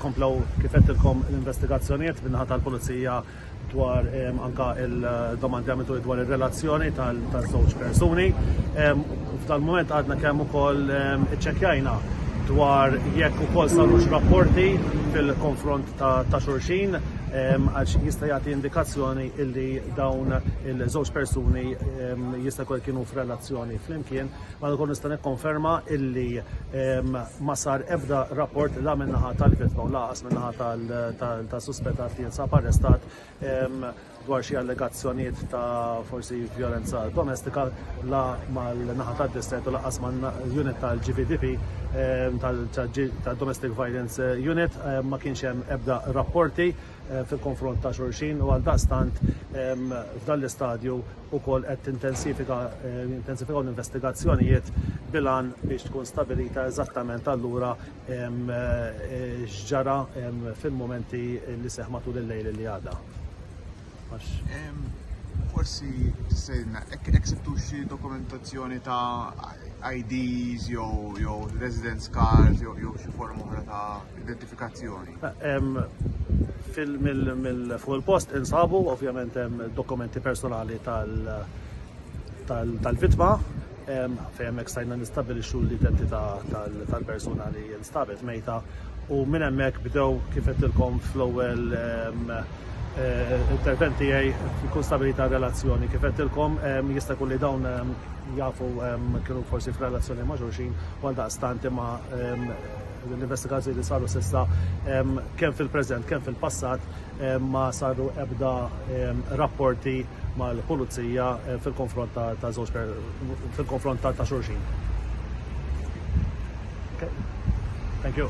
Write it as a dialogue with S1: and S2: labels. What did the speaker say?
S1: Komplew kif għedtilkom l-investigazzjonijiet min-naħa tal-Pulizija dwar anke il-domandi għamiltuli dwar ir-relazzjoni taż-żewġ persuni. F'dal-mument għadna kemm ukoll iċċekkjajna dwar jekk ukoll sarux rapporti fil-konfront ta' xulxin għax jista' jagħti indikazzjoni illi dawn il-żewġ persuni jista' jkun kienu f'relazzjoni flimkien Madankollu ukoll nista' nikkonferma illi ma sar ebda rapport la min-naħa tal-vittma u laqas min-naħa tas-suspettat li jinsab arrestat dwar xi allegazzjonijiet ta' forsi vjolenza domestika la mal-naħa tad-distret u laqas mal-unit tal-GVDP tal-Domestic Violence Unit ma kienx hemm ebda rapporti fil-konfront ta' xulxin u għaldaqstant f'dan l-istadju wkoll qed intensifikaw l-investigazzjonijiet bil-għan biex tkun stabilita eżattament allura x'ġara fil-mumenti li seħħ matul il-lejl li għadda.
S2: Forsi tistgħidilna hekk sibtu xi dokumentazzjoni ta' IDs jew residence cards jew xi forma oħra ta' identifikazzjoni.
S1: Fuq il-post insabu ovvjament hemm dokumenti personali tal-vittma fejn hemmhekk stajna nistabilixxu l-identità tal-persuna li nstabet mejta u minn hemmhekk bdew kif qedtilkom fl-ewwel intervent tiegħi tkun stabilita relazzjoni. Kif qedtilkom jista' jkun li dawn jafu kienu forsi f'relazzjoni ma' xulxin u għaldaqstant imma Din l-investigazzjoni li saru s'issa kemm fil-preżent kemm fil-passat ma saru ebda rapporti mal-Pulizija fil-konfront ta' żewġ fil-konfront ta' xulxin. Okay. Thank you.